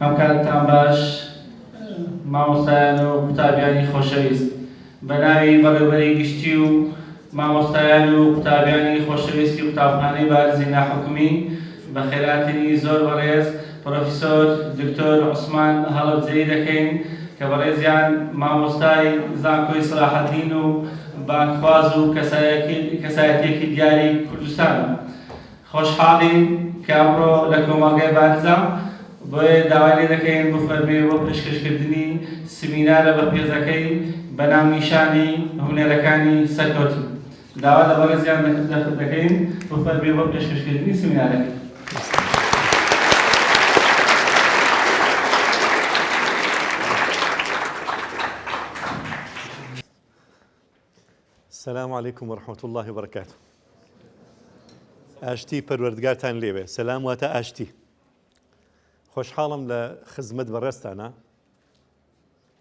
ئەمکاتتان باش مامۆستایان و قوتابیانی خۆشەویست بە ناوی بەڕێوبەری گشتی و مامۆستایان و قوتابیانی خۆشەویستی قوتابخانەی بارزی ناحکومی بەخێرهاتنی زۆر بەڕێز پرۆفیسۆر دکتۆر عوسمان هەڵەبجەیی دەکەین کە بەڕێزیان مامۆستای زانکۆی سەلاحەدین و بانگخواز و کەسایەتیەکی دیاری کوردستانە. خۆشحاڵین کە ئەمڕۆ لە کۆمەڵگای بارزان بۆیە داوای لێ دەکەین بفەرموێ بۆ پێشکەشکردنی سمینارە بەپێزەکەی بە ناونیشانی هونەرەکانی سەرکەوتن. داوا لە بەڕێزیان دەکەین بفەرموێ بۆ پێشکەشکردنی سمینارەکەی. السلام علیکم ورحمة اللە وبرکاته ئاشتی پەروەردگارتان لێ بێ سەلام واتە ئاشتی خۆشحاڵم لە خزمەت بەڕێزتانا.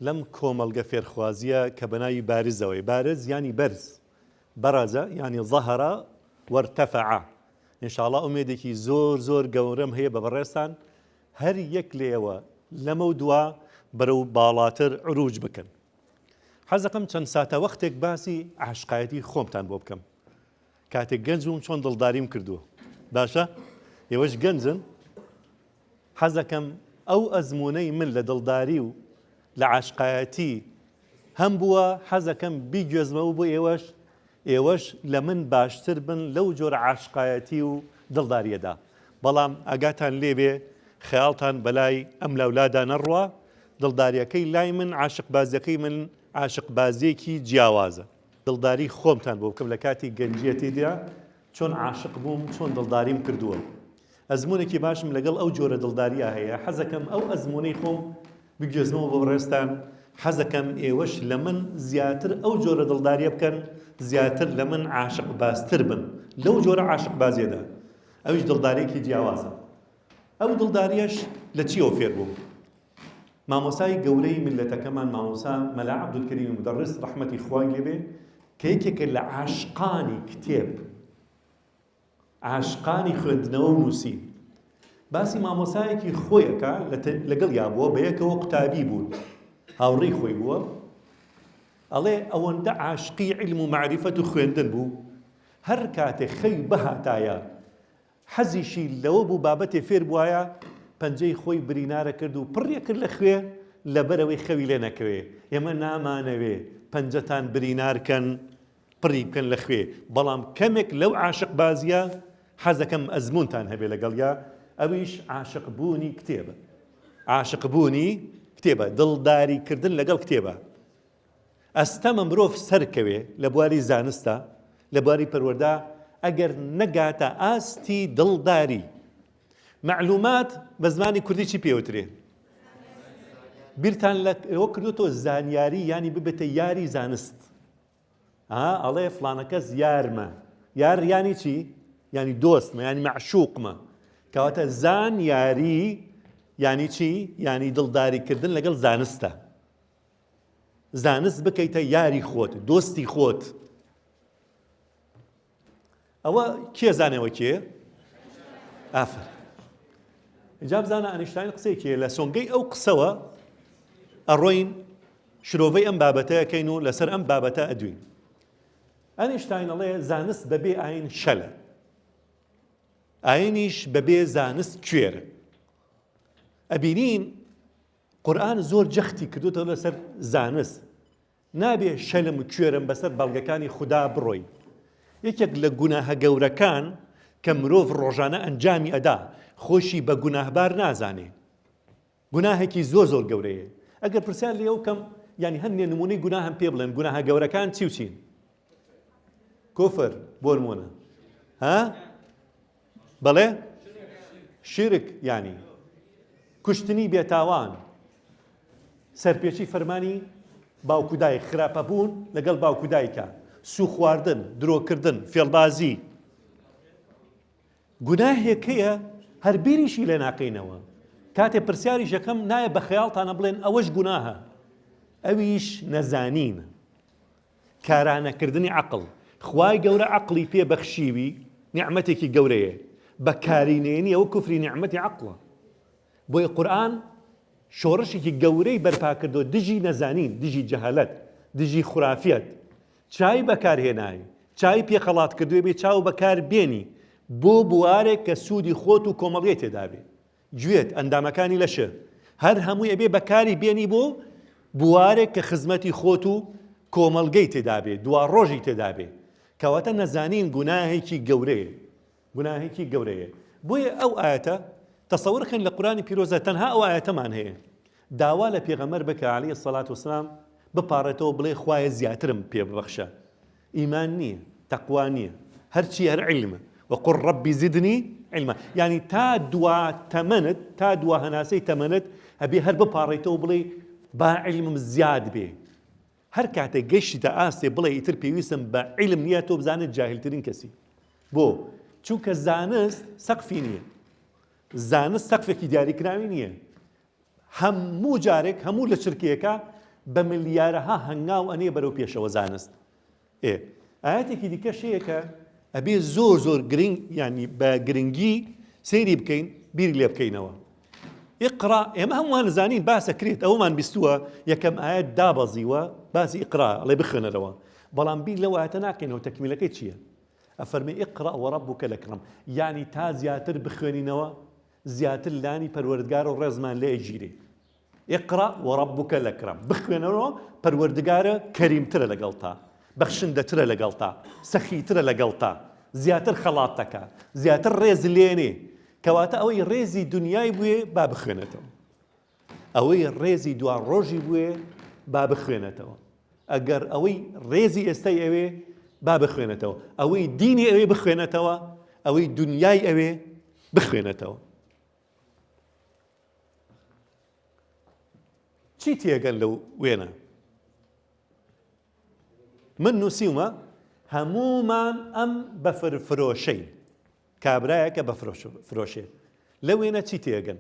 لەم کۆمەڵگە فێرخوازییە کە بە ناوی بارزەوەی، بارز یانی بەرز، برز یانی ظهر وارتفع، انشاءاللە ئومێدێکی زۆر زۆر گەورەم هەیە بە بەڕێزتان هەر یەک لە ئێوە لەمەو دوا بەرەو باڵاتر عروج بکەن. حەز دەکەم چەند ساتەوەختێک باسی عاشقایەتی خۆمتان بۆ بکەم. کاتێک گەنج بووم چۆن دڵداریم کردووە باشە ئێوەش گەنجن حەزەکەم ئەو ئەزمونەی من لە دڵداری و لە عاشقایەتی هەم بووە حەزەکەم بیگوێزمەوە بۆ ئێوەش ئێوەش لە من باشتر بن لەو جۆرە عاشقایەتی و دڵداریەدا بەڵام ئاگاتان لێبێ خەیاڵتان بەلای ئەم لاولادا نەڕوا دڵداریەکەی لای من عاشق بازەکەی من عاشق بازێکی جیاوازە دڵداری خۆمتان بۆ بکەم لە کاتی گەنجیەتیدا چۆن عاشق بووم چۆن دڵداریم کردووە ئەزمونێکی باشم لەگەڵ ئەو جۆرە دڵداریا هەیە حەزەکەم ئەو ئەزمونەی خۆم بگوێزمەوە بۆ بڕێستان حەزەکەم ئێوەش لە من زیاتر ئەو جۆرە دڵداریە بکەن زیاتر لە من عاشق باستر بن لەو جۆرە عاشق بازیەدا ئەویش دڵدارێکی جیاوازە ئەو دڵداریش لە چیەوە فێر بووم مامۆستای گەورەی میللەتەکەمان مامۆستا مەلا عەبدولکەریمی مودەڕس ڕەحمەتی خوای لێ بێ کە یەکێکە لە عاشقانی کتێب عاشقانی خوێندنەوە و نووسین باسی مامۆسایەکی خۆیەکە لەگەڵ یا بووە بە یەکەوە قوتابی بوون هاوڕێی خۆی بووە ئەڵێ ئەوەندە عاشقی علم و معرفەت و خوێندن بوو هەر کاتێ خەوی بهاتایە حەزیشی لەوە بوو بابەتێ فێر بوایە، پەنجەی خۆی برینارە کرد و پڕی کرد لە خوێ، لەبەرئەوەی خەوی لێ نەکەوێ، ئێمە نامانەوێ پەنجەتان برینار کەن، پڕی بکەن لە خوێ، بەڵام کەمێک لەو عاشقبازییە، حەزەکەم ئەزموونتان هەبێ لەگەڵیا، ئەویش عاشقبوونی کتێبە. عاشقبوونی کتێبە، دڵداریکردن لەگەڵ کتێبە. ئەستەمە مرۆڤ سەرکەوێ لە بواری زانستا، لە بواری پەروەردە، ئەگەر نەگاتە ئاستی دڵداری. مەعلومات بە زمانی کوردی چی پێوترێ؟ بیرتان لەوە کردوتەوە زانیاری یانی ببێتە یاری زانست ئەڵێ فلانەکەس یارمە یار یانی چی؟ ینی دۆستمە ینی مەعشوقمە کەواتە زان یاری ینی چی؟ ینی دڵداریکردن لەگەڵ زانستە زانست بکەیتە یاری خۆت دۆستی خۆت ئەوە کێ زانەوە کێ ئافر جا بزانە ئەنیشتاین قسێکێ لە سۆنگەی ئەو قسەوە ئەڕۆین شرۆڤەی ئەم بابەتەکەین و لەسەر ئەم بابەتە ئەدوین ئەنیشتاینەڵێ زانست بەبێ ئاین شەلە ئاینیش بەبێ زانست کوێرە ئەبینین قورئان زۆر جەختی کردۆتەوە لەسەر زانست نابێ شەلم و کوێرم بەسەر بەڵگەکانی خودا بڕۆی یەکێک لە گوناهە گەورەکان کە مرۆڤ ڕۆژانە ئەنجامی ئەدا خۆشی بە گوناهبار نازانێ گوناهێکی زۆر زۆر گەورەیە ئەگەر پرسیار لێ ئەو کەم ینی هەندێ نمونەی گوناهەم پێ بڵێن گوناهە گەورەکان چی و چین کوفر بۆ نمونە ها بەڵێ شیرک یانی کوشتنی بێتاوان سەرپێچی فەرمانی باوکودای خراپەبوون لەگەڵ باوکودایکە سوخواردن درۆکردن فێڵبازی گوناهێکەیە هەربیریشی لێ ناکەینەوە کاتێ پرسیاریش یەکەم نایە بە خەیاڵتانە بڵێن ئەوەش گوناهە ئەویش نەزانین کارانەکردنی عەقڵ، خوای گەورە عەقڵی پێ بەخشیوی نیعمەتێکی گەورەیە بەکاری نەیەنی ئەوە کوفری نیعمەتی عەقڵە بۆیە قورئان شۆڕشێکی گەورەی بەرپاکردوە دژی نەزانین دژی جەهالەت دژی خورافیەت چای بەکارهێنای چای پێخەڵات کردوێ بێ چاو بەکار بێنی بۆ بوارێک کە سوودی خۆت و کۆمەڵگەی تێدابێ گوێت، ئەندامەکانی لەشت، هەر هەمووی ئەبێ بەکاری بێنی بۆ بوارێک کە خزمەتی خۆت و کۆمەڵگەی تێدابێ، دواڕۆژی تێدابێ. کەواتە نەزانین گوناهێکی گەورەیە. گوناهێکی گەورەیە. بۆیە ئەو ئایەتە، تەسەور کەن لە قورئانی پیرۆزدا تەنها ئەو ئایەتەمان هەیە. داوا لە پێغەمبەر بکە علیە سەڵات وسلام بپاڕێتەوە بڵێ خوایە زیاترم پێ ببەخشە. ئیمان نیە تەقوا نیە هەرچیە هەر عیلمە وەقول ربی زدنی عیلما یانی تا دوا تەمەنت تا دوا هەناسەی تەمەنت ئەبێ هەر بپاڕیتەوە بڵێ با عیلمم زیاد بێ هەر کاتێک گەشتە ئاستێ بڵێ ئیتر پێویستم بە عیلم نییە تۆ بزانێت جاهلترین کەسی بۆ چونکە زانست سەقفی نییە زانست سەقفێکی دیاریکراوی نییە هەموو جارێک هەموو لە چرکەیەکە بە ملیارەها هەنگاو ئەنێ بەرەو پێشەوە زانست ئێ ئاەتێکی دیکە شەیە کە ئەبێ زۆر زۆر گرنگ ینی بە گرنگی سەیری بکەین بیری لێ بکەینەوە ئقرا ئێمە هەمووان زانین باسەکرێت ئەومان بیستووە یەکەم ئاەت دابەزیوە باسی ئقرا ئەڵێ بخوێنەرەوە بەڵام بیر لەو ئاەتە ناکەینەوە تەکمیلەکەی چییە ئەفەرمی ئقرا وەڕە بووکە لە کڕم یعنی تا زیاتر بخوێنینەوە زیاتر لانی پەروەردگارە ڕێزمان لێ ئەگیرێ. اقرا و ربک لکرم بخوێنەوە پەروەردگارە کەریمترە لەگەڵتا بەخشندەترە لەگەڵتا سەخیترە لەگەڵتا زیاتر خەڵات دەکا زیاتر ڕێز لێنێ کەواتە ئەوەی ڕێزی دنیای بوێ با بخوێنێتەوە ئەوەی ڕێزی دوا ڕۆژی بوێ با بخوێنێتەوە ئەگەر ئەوەی ڕێزی ئێستای ئەوێ با بخوێنێتەوە ئەوەی دینی ئەوێ بخوێنێتەوە ئەوەی دنیای ئەوێ بخوێنێتەوە چی تێگەن لەو وێنە من نووسیومە هەمومان ئەم بەفر فرۆشەین کابرایەکە بە فرۆشێ لە وێنە چی تێگەن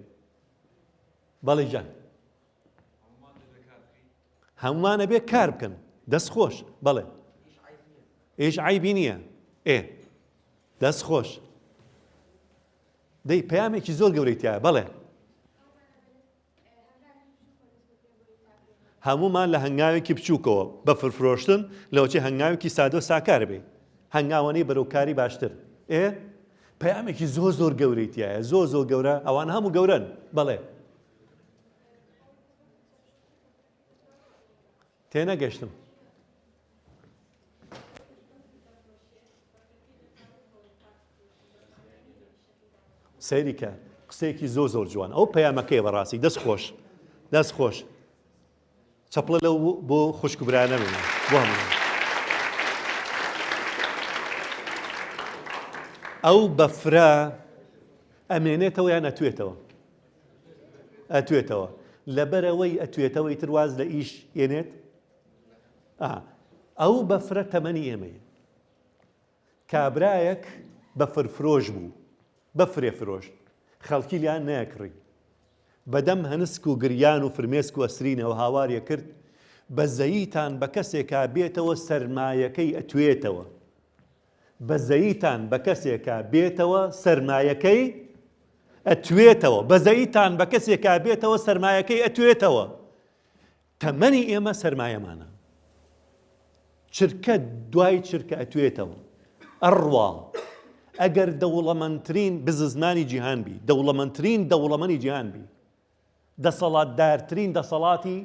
بەڵی جان هەمووانە بێ کار بکەن دەست خۆش بەڵێ ئێش عیبی نییە ئێ دەست خۆش دەی پامێکی زۆر گەورەی تایە بەڵێ هەمومان لە هەنگاوێکی بچووکەوە بە فرفرۆشتن لەوچی هەنگاوێکی سادۆ ساکار بێ هەنگاوانەی بەرەوکاری باشتر ئێ پەیامێکی زۆر زۆر گەورەی تایە زۆر زۆر گەورە ئەوان هەموو گەورەن بەڵێ تێنەگەشتم سەیریکە قسەیەکی زۆ زۆر جوان ئەو پەیامەکەی بەڕاستی دەست خۆش دەست خۆش چەپڵە لەو بۆ خوشک و برانە بێ بۆ هەموو ئەو بەفرە ئەمێنێتەوە یان ئەتوێتەوە ئەتوێتەوە لەبەرەوەی ئەتوێتەوەی ترواز لە ئیش یەنێت ئەو بەفرە تەمەنی ئێمەیە کابرایەک بەفرفرۆش بوو، بەفرێ فرۆشت، خەڵکی لێیان نەیەکڕی. بەدەم هەنسک و گریان و فرمێسک و ئەسرینەوە هاواری ئەکرد، بەزەییتان بە کەسێکا بێتەوە سەرمایەکەی ئەتوێتەوە. بەزەییتان بە کەسێکا بێتەوە سەرمایەکەی ئەتوێتەوە. بەزەییتان بە کەسێکا بێتەوە سەرمایەکەی ئەتوێتەوە. تەمەنی ئێمە سەرمایەمانە. چرکە دوای چرکە ئەتوێتەوە. ئەڕوا. ئەگەر دەوڵەمەندترین بززمانی جیهان بی، دەوڵەمەندترین دەوڵەمەنی جیهان بی، دەسەڵاتدارترین دەسەڵاتی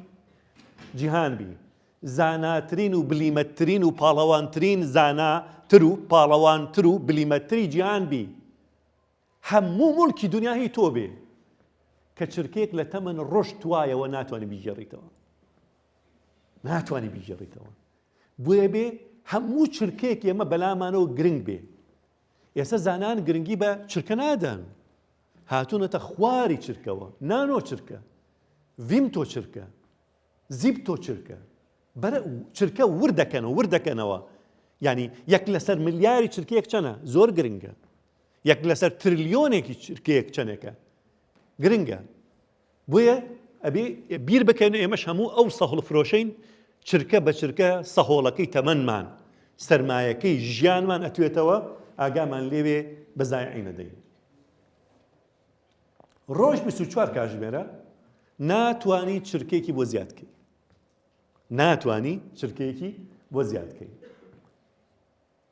جیهان بی، زاناترین و بلیمەتترین و پاڵەوانترین زاناتر و پاڵەوانتر و بلیمەتتری جیهان بی، هەموو موڵکی دونیا هی تۆ بێ کە چرکەیەک لە تەمەن ڕۆشتوایەوە ناتوانانی بیگێڕیتەوە ناتوانانی بیگێڕیتەوە بۆیە بێ هەموو چرکەیەک ئێمە بەلامانەوە گرنگ بێ ئێستا زانان گرنگی بە چرکە نادەن هاتوونەتە خواری چرکەوە نانۆ چرکە ڤیم تۆ چرکە زیب تۆ چرکە بەرە چرکە وردەکەنەوە وردەکەنەوە ینی یەک لەسەر ملیاری چرکەیەک چەنە زۆر گرنگە یەک لەسەر ترلیۆنێکی چرکەیەک چەنێکە گرنگە بۆیە ئەبێ بیر بکەن ئێمەش هەموو ئەو سەهڵ فرۆشین چرکە بە چرکە سەهۆڵەکەی تەمەنمان سرمایەکەی ژیانمان ئەتوێتەوە ئاگامان لێوێ بەزایعی نەدەین ڕۆژ 24 کاژمێرە ناتانی چرکێکی بۆ زیادکەی ناتانی چرکێکی بۆ زیادکەی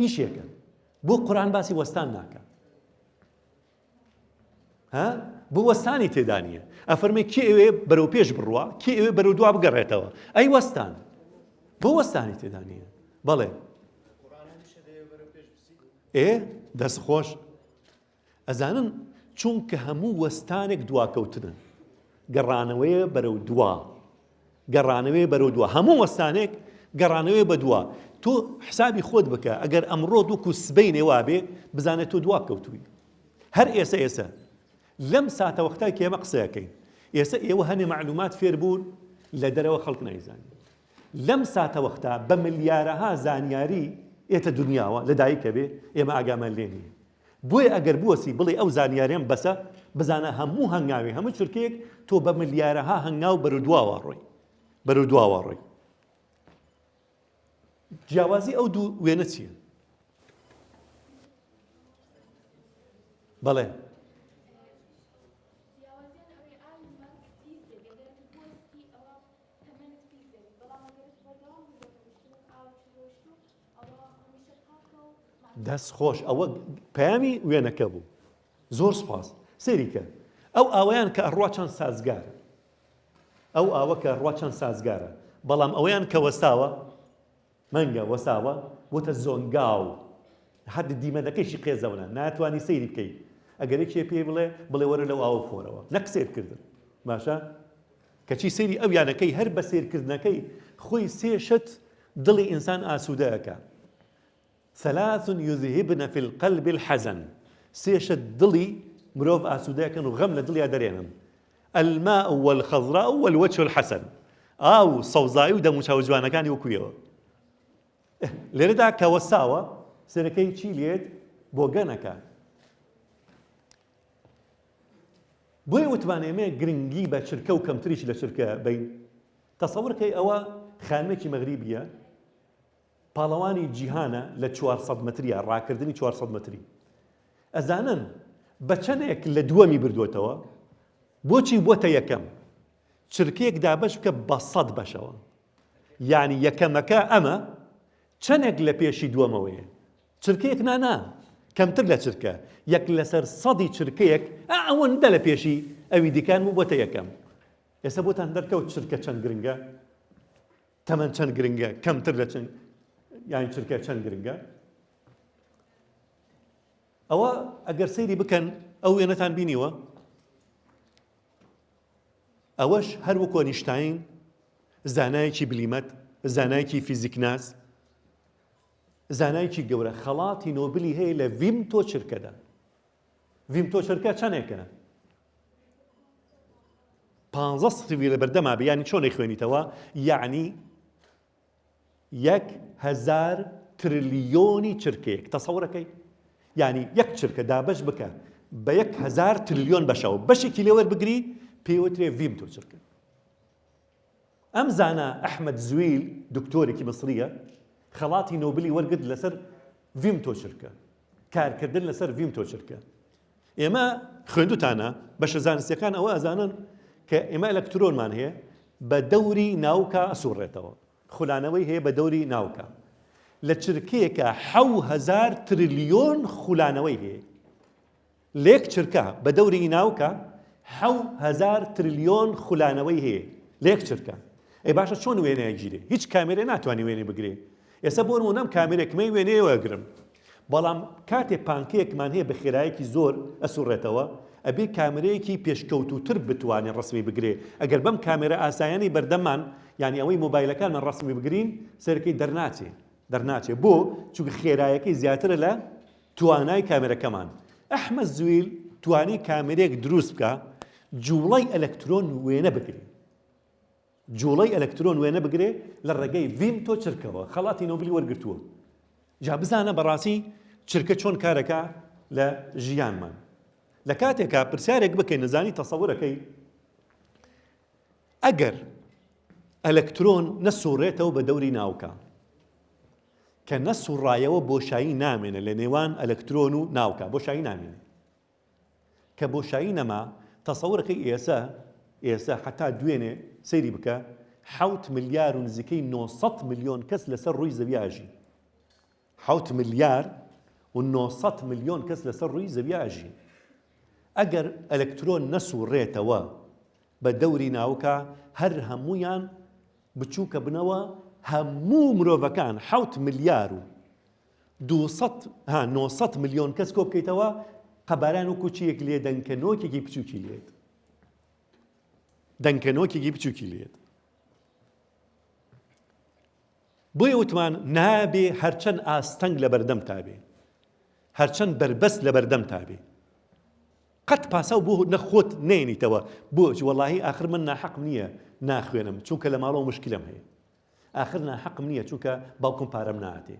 ئیشێکە بۆ قورآن باسی وەستان ناکە ها بۆ وەستانی تێدا نییە ئەفەرمێ کێ ئەوێ بەرەو پێش بڕوە کێ ئەوێ بەرەو دوا بگەڕێتەوە ئەی وەستان بۆ وەستانی تێدا نییە بەڵێ ئێ دەست خۆش ئەزانن چونکە هەموو وەستانێک دواکەوتنە گەڕانەوەیە بەرەو دوا گەڕانەوەی بەرەو دوا هەموو وەستانێک گەڕانەوەی بە دوا تۆ حسابی خۆت بکە ئەگەر ئەمڕۆ دوکو سبەی نێوابێ بزانێت تۆ دوا کەوتووی هەر ئێسە ئێسە لەم ساتە وەختای کێمە قسەکەین ئێستا ئێوە هەنێ معلومات فێر بوون لە دەرەوە خەڵک نایزانین لەم ساتە وەختا بە ملیارەها زانیاری ئێتە دنیاوە لە دایکە بێ ئێمە ئاگامان لێ نیە بۆیە ئەگەر بوەستی بڵێی ئەو زانیاریەم بەسە بزانە هەموو هەنگاوی هەموو چرکەیەک تۆ بە ملیارەها هەنگاو بەرەو دواوە ڕۆی بەرەو دواوە ڕۆی جیاوازی ئەو دوو وێنە چییە بەڵێ دەست خۆش ئەوە پەیامی وێنەکە بوو زۆر سپاس سێریکە ئەو ئاویان کە ئەڕوا چەند سازگار ئەو ئاوە کە ڕوا چەند سازگارە بەڵام ئەویان کە وەستاوە مەنگە وەساوە وتە زۆنگاو حد دیمەنەکەیشی قێزەونە ناتوانانی سەیری بکەیت ئەگەرێکێ پێی بڵێ بڵێ وەرە لەو ئاوە خۆرەوە نە قسێت کردن باشە کەچی سەیری ئەو یانەکەی هەر بە سەیرکردنەکەی خۆی سێ شت دڵی ئینسان ئاسوودە ئەکا، ثلاث یذهبن فی القلب الحزن، سێ شت دڵی مرۆڤ ئاسوودە ئەکەن و غەم لە دڵیا دەرێنن، الماء والخضراء والوجه الحسن، ئاو و سەوزایی و دەموچاو جوانەکانی وەکو ئێوە. لێرەدا کە وەستاوە سەرەکەی چی لێت بۆگەن ئەکا. بۆیە وتمان ئێمە گرنگی بە چرکە و کەمتریش لە چرکە بین تەسەور کەی ئەوە خانمێکی مەغریبیە پاڵەوانی جیهانە لە 400 متریە ڕاکردنی 400 متری ئەزانن بە چەندێک لە دووەمی بردوێتەوە بۆچی بۆتە یەکەم چرکێک دابش بکە بە سەد بەشەوە یعنی یەکەمەکە ئەمە چەندێک لە پێشی دووەمەوەیە چرکەیەک نا نا کەمتر لە چرکە یەک لەسەر سەدی چرکەیەک ئەوەندە لە پێشی ئەوی دیکان بوو بۆتە یەکەم ئێستا بۆتان دەرکەوت چرکە چەند گرنگە تەمەەن چەند گرنگە کەمتر لە چەند یان چرکە چەند گرنگە ئەوە ئەگەر سەیری بکەن ئەو وێنەتان بینیوە ئەوەش هەر وەکۆ نیشتین زانایەکی بلیمەت زانایکی فیزیکناس زانایکی گەورە خەڵاتی نۆبلی هەیە لە ڤیمتۆ چرکەدا ڤیمتۆ چرکە چەنێکە پانزە سفری لە بەردەما بێ ینی چۆنێک خوێنیتەوە یعنی یەک هزار ترلیۆنی چرکەیەک تەسەورەکەی ینی یەک چرکە دابش بکە بە یەک هزار ترلیۆن بەشەوە بەشێکی لێوەر بگری پێوترێ ڤیمتۆ چرکە ئەم زانا ئەحمەد زویل دکتۆرێکی میسرییە خەڵاتی نۆبلی وەرگرت لەسەر ڤیم تۆچرکە کارکردن لەسەر ڤیم تۆچرکە ئێمە خوێندوتانە بەشە زانستەکان ئەوە ئەزانن کە ئێمە ئەلەکترۆنمان هەیە بە دەوری ناوکە ئەسوڕێتەوە خولانەوەی هەیە بە دەوری ناوکە لە چرکەیەکە حەوهزار تریلیۆن خولانەوەی هەیە لەیەک چرکە بە دەوری ناوکە حەو هەزار ترلیۆن خولانەوەی هەیە لەیەک چرکە ئەی باشە چۆن وێنە ئەگیرێ هیچ کامێرێ ناتوانانی وێنەی بگرێ ئێستا بۆ نموونەم کامێرێکمەی وێنەیە وەگرم بەڵام کاتێ پانکەیەکمان هەیە بە خێرایەکی زۆر ئەسوڕێتەوە ئەبێ کامرەیەکی پێشکەوتوتر بتوانێ ڕسمی بگرێ ئەگەر بەم کامێرە ئاسایانی بەردەمان یعنی ئەوەی مۆبایلەکانمان ڕسمی بگرین سەرەکەی دەرناچێ دەرناچێ بۆ چونکە خێرایەکەی زیاترە لە توانای کامێرەکەمان ئەحمەد زویل توانی کامێرێک دروست بکە جوڵەی ئەلەکترۆن وێنە بگری جوڵەی ئەلەکترۆن وێنە بگرێ لە ڕێگەی ڤیم تۆ چرکەوە خەڵاتی نۆبلی وەرگتووە جا بزانە بەڕاستی چرکە چۆن کارەکە لە ژیانمان لە کاتێکا پرسیارێک بکەین نەزانی تەسەورەکەی ئەگەر ئەلەکترۆن نەسوڕێتەوە بە دەوری ناوکە کە نەسوڕایەوە بۆشایی نامێنێ لە نێوان ئەلەکترۆن و ناوکە بۆشایی نامێنێ کە بۆشایی نەما تەسەورە کەی ئێسە ئێسە حەتا دوێنێ سەیری بکە حەوت ملیار و نزیکەی 900 ملیۆن کەس لەسەر ڕووی زەوی ئاژین حەوت ملیار و 900 ملیۆن کەس لەسەر ڕووی زەوی ئاژین ئەگەر ئەلەکترۆن نەسوڕێتەوە بە دەوری ناوکە هەر هەمویان بچووکە بنەوە هەموو مرۆڤەکان حەوت ملیار و دوو سەد ها نۆ سەد ملیۆن کەس کۆ بکەیتەوە قەباران وەکو چیەک لێ دەنکەنۆکێکی بچووکی لێت دەنکەنۆکێکی بچووکی لێت بۆیە وتمان نابێ هەرچەند ئاستەنگ لە بەردەم تابێ هەرچەند بەربەست لە بەردەم تابێ قەت پاساو بۆ نە خۆت نەینیتەوە بۆچ وەڵاهی ئاخر من ناحەقم نیە ناخوێنم چونکە لە ماڵەوە مشکلەم هەیە ئاخر ناحەقم نیە چونکە باوکم پارەم ناتێ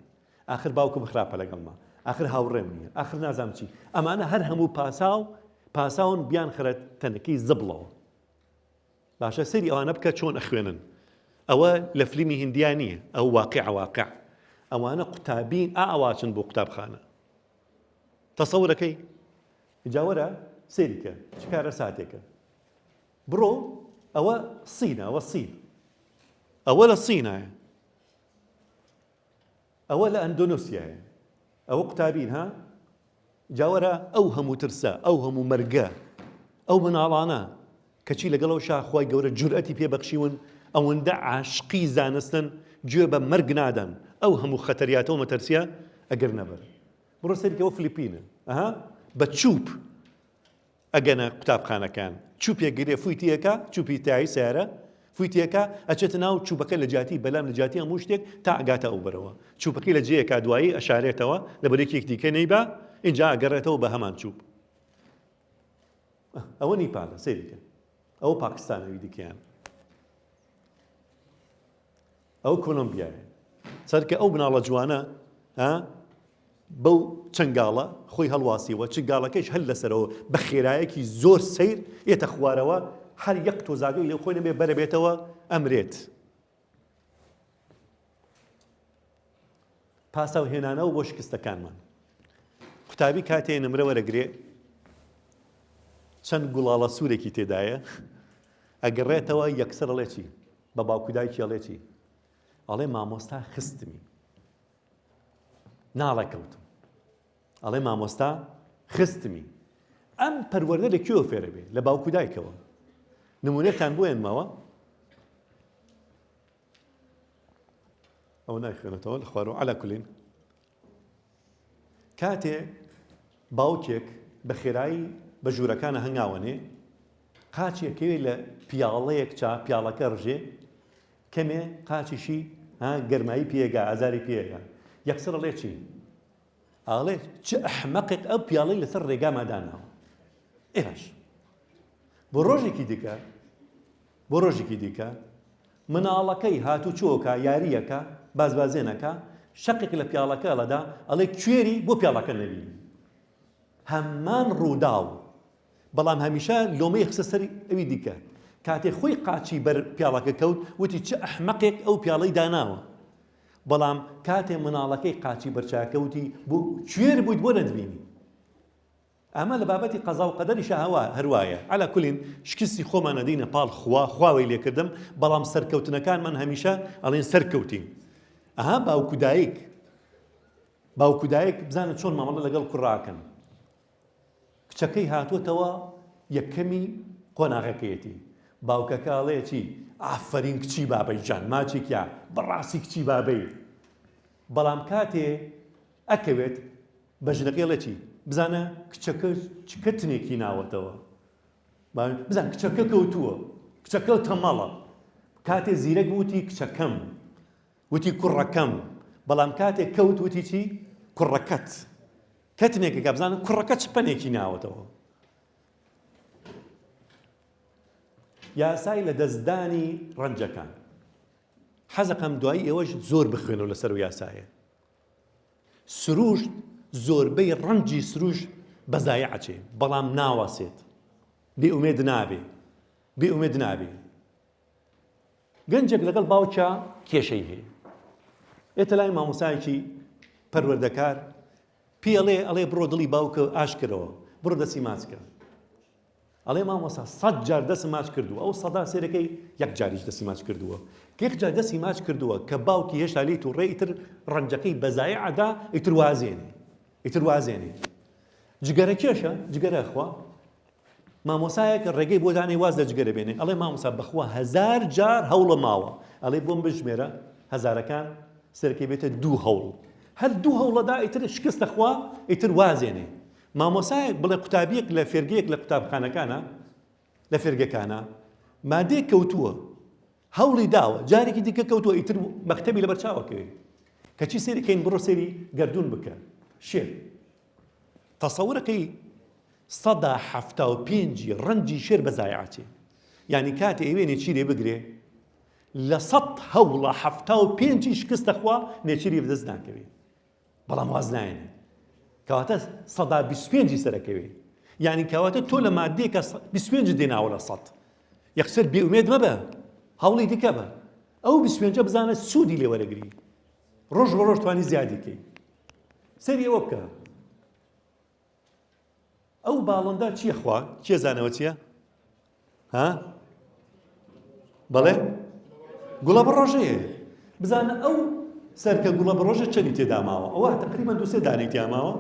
ئاخر باوکم خراپە لەگەڵما ئاخر هاوڕێم نیە ئاخر نازام چی ئەمانە هەر هەموو پاساو پاساون بیان خرە تەنەکەی زبڵەوە باشە سەری ئەوانە بکە چۆن ئەخوێنن ئەوە لە فلیمی هندیا نییە ئەو واقع واقع ئەوانە قوتابین ئاواچن بۆ قوتابخانە تەسەور ئەکەی؟ ئینجا وەرە سەیری کە چ کارەساتێکە. بڕۆ ئەوە سینە ئەوە سین ئەوە لە سینایە ئەوە لە ئەندۆنوسیایە ئەوە قوتابین ها جاوەرە ئەو هەموو ترسە ئەو هەموو مەرگە ئەو مناڵانە کەچی لەگەڵ ئەوشا خوای گەورە جورئەتی پێ بەخشیون ئەوەندە عاشقی زانستن گوێ بە مەرگ نادەن ئەو هەموو خەتەریاتەو مەتەرسیە ئەگرنە بەر بڕۆ سەیری کە بۆ فلیپینە ئەها بە چوپ ئەگەنە قوتابخانەکان چوپێک گرێ فوی تێکا چوپی تای سارە فوی تێکا ئەچێتە ناو چوبەکە لە جیاتی بەلام لە جیاتی هەموو شتێک تا ئەگاتە ئەو بەرەوە چوپەکەی لە جێیەکا دوایی ئەشارێتەوە لە بەرێکێک دیکە نەیبا ئینجا ئەگەڕێتەوە بە هەمان چوب ئه ئەوە نیپالە سەیری کە ئەوە پاکستانە ئەوی دیکەیان ئەو کۆلۆمبیایە چەرکە ئەو بناڵە جوانە ها بەو چنگاڵە خۆی هەڵواسیەوە چنگاڵەکەش هەل لەسەرەوە بە خێرایەکی زۆر سیر ئێتە خوارەوە هەر یەک تۆزاگەی لەو خۆی نەبێ بەرەبێتەوە ئەمرێت پاساو هێنانەوە بۆ شکستەکانمان قوتابی کاتێ نمرە وەرەگرێ چەند گوڵاڵە سوورێکی تێدایە ئەگەڕێتەوە یەکسەر ڵێ چی بە باوکودای کێڵێ چی ئەڵێ مامۆستا خستمی ناڵێکەوتم ئەڵێ مامۆستا خستمی ئەم پەروەردە لە کوێوە فێرە بێ لە باوکو دایکەوە نمونەتان بۆێن ماوە ئەو نایخێنێتەوە لە خوارەوە علا کولین کاتێ باوکێک بە خێرایی بە ژوورەکانە هەنگاوەنێ قاچێکەوێ لە پیاڵەیەک چا پیاڵەکە ڕژێ کەمێ قاچیشی گەرمایی پێگا ئازاری پێگا یەکسەر ڵێ چی ئاڵێ چ ئەحمەقێک ئەو پیاڵەی لەسەر ڕێگاما داناوە ئێ باش بۆ ڕۆژێکی دیکە بۆ ڕۆژێکی دیکە مناڵەکەی هاتوو چۆکە یاریەکە بازبازێنەکە شەقێک لە پیاڵەکە لەدا ئەڵێ کوێری بۆ پیاڵەکە نەبی هەمان ڕووداو بەڵام هەمیشە لۆمەی خسە سەری ئەوی دیکە کاتێ خۆی قاچی بەر پیاڵەکە کەوت وتی چ ئەحمەقێک ئەو پیاڵەی داناوە بەڵام کاتێ مناڵەکەی قاچی بەرچاوەکە وتی بۆ کوێر بوویت بۆ نەتبینی؟ ئەمە لە بابەتی قەزا و قەدەریشا هەروایە عەلا کولین شکستی خۆمان ئەدەینە پاڵ خوا خوا وەی لێکردم بەڵام سەرکەوتنەکانمان هەمیشە ئەڵێن سەرکەوتین ئەها باوک و دایک باوک و دایک بزانە چۆن مامەڵە لەگەڵ کوڕاکەن کچەکەی هاتۆتەوە یەکەمی قۆناغەکەیەتی باوکەکە ئەڵێ چی ئافەرین کچی بابەی جان ماچێکیا بەڕاستی کچی بابەی بەڵام کاتێ ئەکەوێت بە ژنەکەی ڵێکی بزانە کچەکە چکە تنێکی ناوەتەوە بزان کچەکە کەوتووە کچەکە تەمەڵە کاتێ زیرەک وتی کچەکەم وتی کوڕەکەم، بەڵام کاتێک کەوت وتی چی؟ کوڕەکەت. کەتنێکە کە بزانن کوڕەکە چ پەنێکی ناوەتەوە. یاسای لە دەستدانی ڕەنجەکان. حەزەکەم دوایی ئێوەش زۆر بخوێنەوە لەسەر و یاسایە. سروشت زۆربەی ڕەنجی سروش بەزای عچێ بەڵام ناوەسێت بێ ئومێد نابێ بێ ئومێد نابێ گەنجێک لەگەڵ باوکیا کێشەی هەیە ئێتە لای مامۆسایەکی پەروەردەکار پێڵێ ئەڵێ بڕۆ دڵی باوکە ئاشکرەوە بڕۆ دەسی ماچکە ئەڵێ مامۆسا سەد جار دەسم ماچ کردو ئەو سەدا سێرەکەی یەک جاریش دەسی ماچ کردووە یەک جار دەسی ماچ کردووە کە باوکی هێشتا لێی تو ڕێ ئیتر ڕەنجەکەی بەزای عدا ئیتر وازێنێ ئیتر وازێنێ جگەرە کێشە جگەرە خوا مامۆسایەک ڕێگەی بۆ دانێ واز لە جگە دەبێنێ ئەڵێ مامۆسا بەخوا هەزار جار هەوڵم ماوە ئەڵێ بۆم بژمێرە هەزارەکان سەرەکەی بێتە دوو هەوڵ هەر دوو هەوڵەدا ئیتر شکست دەخوا ئیتر وازێنێ مامۆسایەک بڵێ قوتابیەک لە فێرگەیەک لە قوتابخانەکانە لە فێرگەکانە مادەیەک کەوتووە هەوڵی داوە جارێکی دیکە کەوتوە ئیتر مەکتەبی لەبەر چاوە کەوێت کەچی سەیری کەین بڕۆ سەیری گەردوون بکە شێر تەسەورەکەی سەدا حەفتا و پێنجی ڕەنجی شێر بە زایعچێ یعنی کاتێ ئەوێ نێچیرێ بگرێ لە سەد هەوڵە حەفتا و پێنجی شکستەخوا نێچیری بدەست ناکەوێت بەڵام واز نایەنێ کەواتە سەدا بیست و پێنجی سەرەکەوێ یعنی کەواتە تۆ لە مادەیەکە بیست و پێنجت دێناوە لە سەد یەکسەر بێئومێد مەبە هەوڵی دیکە بە ئەو بیست و پێنجە بزانە سوودی لێ وەرەگری ڕۆژ بە ڕۆژ توانی زیادی کەی سەری ئەوە بکە ئەو باڵندە چیە خوا کێ زانەوە چیە ها بەڵێ گوڵە بڕۆژەیە بزانە ئەو سەرکە گوڵە بڕۆژە چەنی تێداماوە ئەوە تقریبا دوسێ دانەی تیاماوە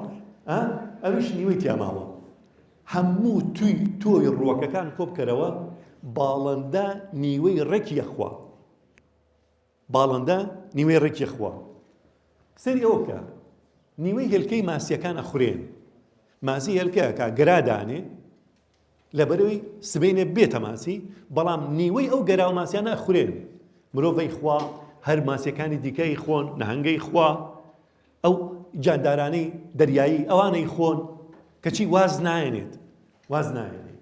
ئەویش نیوەی تیاماوە هەموو توی تۆی ڕووەکەکان کۆبکەرەوە باڵندە نیوەی ڕێکی یەخوا باڵندە نیوەی ڕێکی خوا. سەیری ئەوە بکە نیوەی هێلکەی ماسیەکان ئەخورێن ماسی هێلکەکە گەرادانێ لەبەرەوەی سبینێ بێتە ماسی بەڵام نیوەی ئەو گەرا و ماسیانە ئەخورێن مرۆڤی خوا هەر ماسیەکانی دیکەی خۆن نەهنگەی خوا ئەو جاندارانی دەریایی ئەوانەی خۆن کەچی واز نایەنێت واز نایەنێت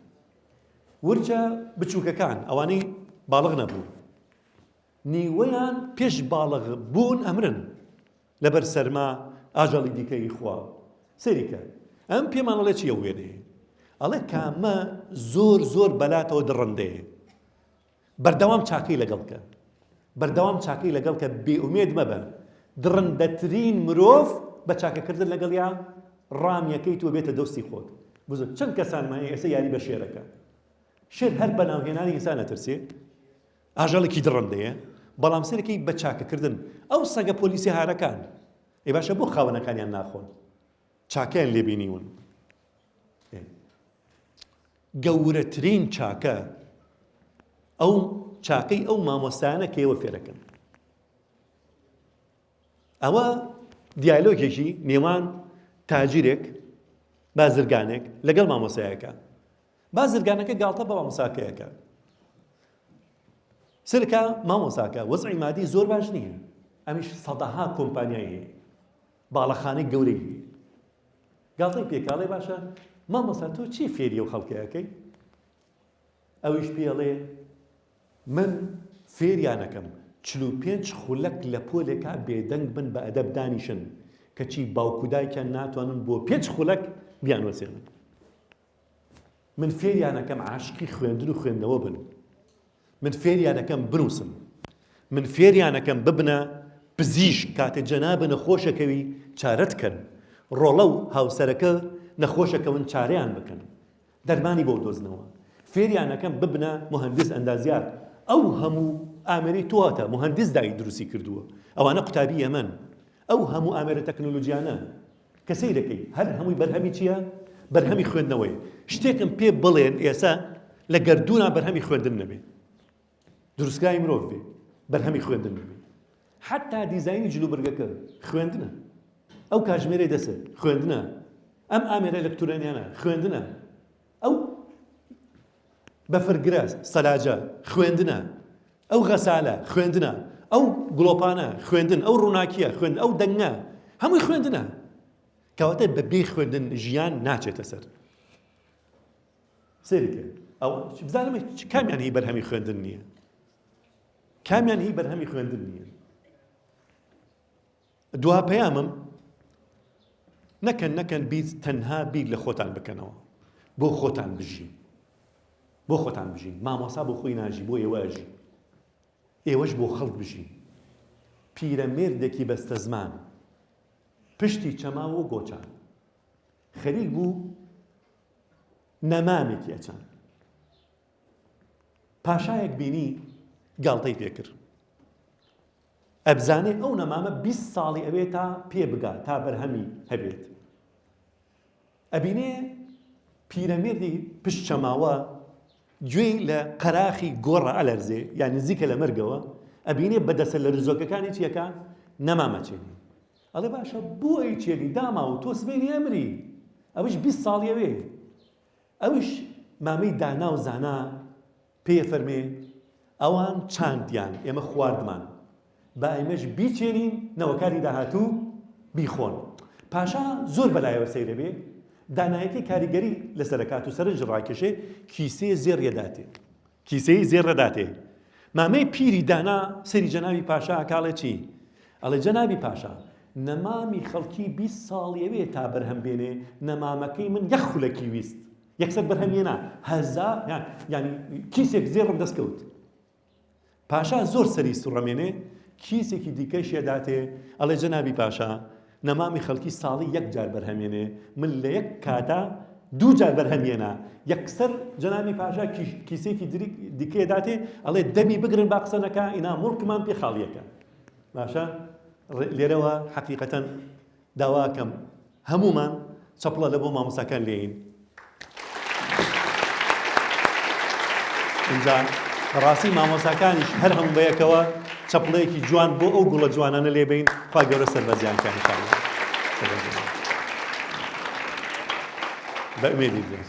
ورچە بچووکەکان ئەوانەی باڵغ نەبوو نیوەیان پێش باڵغ بوون ئەمرن لەبەر سەرما ئاژەڵی دیکە ی خوا سەیری کە ئەم پێمان ئەڵێ چیە وێنەیە ئەڵێ کامە زۆر زۆر بەلاتەوە دڕندەیە بەردەوام چاکەی لەگەڵ کە بەردەوام چاکەی لەگەڵ کە بێئومێد مەبە دڕندەترین مرۆڤ بە چاکەکردن لەگەڵ یا ڕامیەکەی تۆ بێتە دۆستی خۆت بزن چەند کەسانمانی ئێستا یاری بە شێرەکە شێر هەر بەناوهێنانی ئینسان ئەترسێ ئاژەڵێکی دڕندەیە بەڵام سەیرەکەی بە چاکەکردن ئەو سەگە پۆلیسە هارەکان ئەی باشە بۆ خاوەنەکانیان ناخۆن چاکەیان لێبینیون گەورەترین چاکە ئەو چاکەی ئەو مامۆستایانە کە ئێوە فێرەکەن ئەوە دیالۆگێکی نێوان تاجیرێک بازرگانێک لەگەڵ مامۆسایەکە بازرگانەکە گاڵتە بە مامۆساکەیەکە سرکە مامۆساکە وەزعی مادی زۆر باش نییە ئەمیش سەدەها کۆمپانیای هەیە باڵەخانەی گەورەی هەیە گاڵتەی پێکاڵێ باشە مامۆستا تۆ چی فێری و خەڵکەکەی ئەویش پێڵێ من فێریانەکەم چل و پێنج خولەک لە پۆلێکا بێدەنگ بن بە ئەدەب دانیشن کەچی باوکودایکیان ناتوانن بۆ پێنج خولەک بیانوەسێنن من فێریان ئەکەم عاشقی خوێندن و خوێندنەوە بن من فێریان ئەکەم بنووسم من فێریان ئەکەم ببنە پزیشک کاتێ جەنابە نەخۆشەکەوی چارەت کەن ڕۆڵە و هاوسەرەکە نەخۆشەکەون چارەیان بکەن دەرمانی بۆ دۆزنەوە فێریان ئەکەم ببنە مهندس ئەندازیار ئەو هەموو ئامری تواتە مهندس دای دروستی کردووە ئەوانە قوتابی ئەمەن ئەو هەموو ئامێرە تەکنۆلۆژیانە کە سەیرەکەی هەر هەمووی بەرهەمی چیە؟ بەرهەمی خوێندنەوەیە. شتێکم پێ بڵێن ئێسە لە گەردوونا بەرهەمی خوێندن نەبێ. دروستکراوی مرۆڤ بێ بەرهەمی خوێندن نەبێ. حتا دیزاینی جلوبرگەکە خوێندنە. ئەو کاژمێرەی دەسە خوێندنە. ئەم ئامێرە ئەلەکترۆنیانە خوێندنە. ئەو بەفرگرە سەلاجە خوێندنە ئەو غەسالە خوێندنە ئەو گڵۆپانە خوێندن ئەو ڕووناکیە خوێن ئەو دەنگە هەمووی خوێندنە کەواتە بە بێ خوێندن ژیان ناچێتە سەر سێریکە ئەو بزانم کامیان هی بەرهەمی خوێندن نییە کامیان هی بەرهەمی خوێندن نییە دوا پەیامم، نەکەن نەکەن بیر تەنها بیر لە خۆتان بکەنەوە بۆ خۆتان بژین بۆ خۆتان بژین مامۆسا بۆ خۆی ناژی بۆ ئێوە ئەژی ئێوەش بۆ خەڵک بژین پیرە مێردێکی بەستە زمان پشتی چەماوە گۆچان خەریک بوو نەمامێکی ئەچان پاشایەک بینی گاڵتەی پێکرد ئەبزانێ ئەو نەمامە بیست ساڵی ئەوێ تا پێ بگا تا بەرهەمی هەبێت ئەبینێ پیرەمێردی پشت چەماوە گوێی لە قەراخی گۆڕە ئەلەرزێ یا نزیکە لە مەرگەوە ئەبینێ بەدەسە لە رزۆکەکانی چیەکە نەمامەچێنی ئەڵێ باشە بۆی چێنی داما و تۆ سبێنی ئەمری ئەوش بیست ساڵیەوێ ئەوش مامەی دانا و زانا پێێ فەرمێ ئەوان چاندیان ئێمە خواردمان با ئێمەش بیچێنین نەوەکانی داهاتوو بیخۆن پاشا زۆر بەلایەوە سەیرە بێ دانایەتی کاریگەری لەسەرکات و سەرنج ڕاکێشێ کیسەیە زێڕێداتێ کیسەی زێڕەداتێ مامەی پیری دانا سەری جەناوی پاشا کاڵێ چی ئەڵێ جەنابی پاشا نەمامی خەڵکی 20 ساڵیەوێ تا بەرهەم بێنێ نەمامەکەی من یەخ خولەکی ویست یەکسەر بەرهەم هێنا هەزا یان یانی کیسێک زێڕم دەست کەوت پاشا زۆر سەری سوڕەمێنێ کیسێکی دیکەش یەداتێ ئەڵێ جەنابی پاشا نەمامی خەڵکی ساڵی یەک جار بەرهەمێنێ من لە یەک کاتا دوو جار بەرهەمێنا یەکسەر جەنابی پاشا کیسێکی دیکەێ داتێ ئەڵێ دەمی بگرن با قسەنەکە ئینا مڵکمان پێ خاڵیەکە باشە لێرەوە حەقیقەتەن داواکەم هەموومان چەپڵە لە بۆ مامۆستاکان لێین. ئینجا بەڕاستی مامۆستاکانیش هەر هەموو بەیەکەوە چەپڵەیەکی جوان بۆ ئەو گوڵە جوانانە لێبین خوا گەورە سەربەرزیان کە هەشان بە ئومێدی بێت.